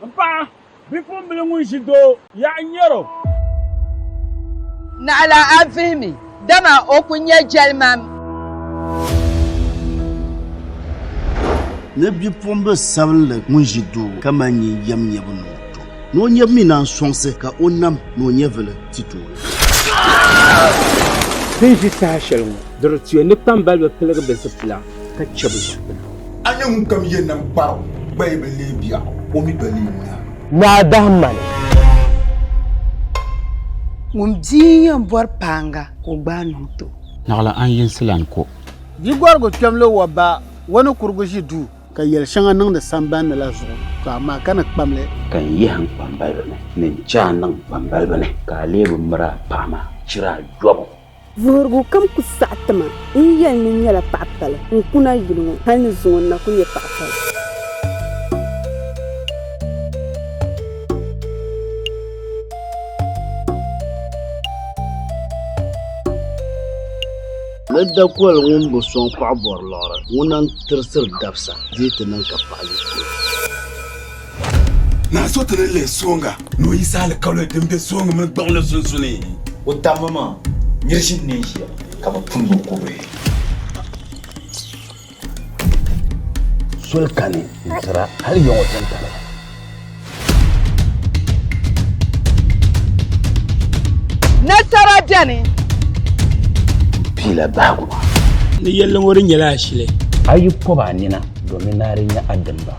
M paɣa, bipumbila ŋun ʒi doo yaɣa n-nyɛr o. Naɣila a vihi mi, dama o ku nyɛ jɛlimam. Ni bipumbila sabinli ŋun ʒi doo ka mali nyin yɛm nyɛbu niŋ o tom, ni o nyɛbu mi naan sɔŋsi ka o nam ni o nyɛvili ti tooi. Ti ni ʒi saha shɛli ŋɔ, di di tuya ni kpambaliba piligi bɛ zipila. ka chɛ bɛ zuɣupina. A ni ŋunkam yɛn nam kpar o gbaya bi leei biɛɣu, o mi gba leei naa. Naa dahi ma ni. Ŋun bia yɛn bɔri paaŋa ka o gbaai niŋ ti o. Naɣila a ni yinsi lan ku. Di gɔrigu kpɛm lo wa ba wa ni kurigu ʒi duu. Ka yɛli shɛŋa niŋdi samban ni la zuɣu, to amaa ka ni kpam li. Ka n yihi n kpambaliba ni, ni n chɛ a niŋ n kpambaliba ni. Ka a lee bi miri a paɣa maa chira a yɔbu. Vuhirigu kam ku saɣi ti ma. N yɛli ni n nyɛla paɣ pali, n ku na yuli ŋɔ hal ni zuŋɔ n na ku nyɛ paɣ pali. Ni dakoli ŋun bi sɔŋ paɣ bɔri liɣiri, ŋuna n-tirisiri dabisa dii ti niŋ ka paɣ yi ku o. Naa so ti ni lihi sooŋa ni o yisi alikawli din be sooŋa mini gbaŋli sunsuuni. O tambu maa, nir ʒini ni ʒiya ka bɛ pun bo kubihi. Soli kani n-tira hal yiŋ o tintaliba. Nasara beni. M piila bahigu. Ni yɛlli ŋɔ di nyɛla ashili. A yi pɔb a nina domin ni a di nya a dimba.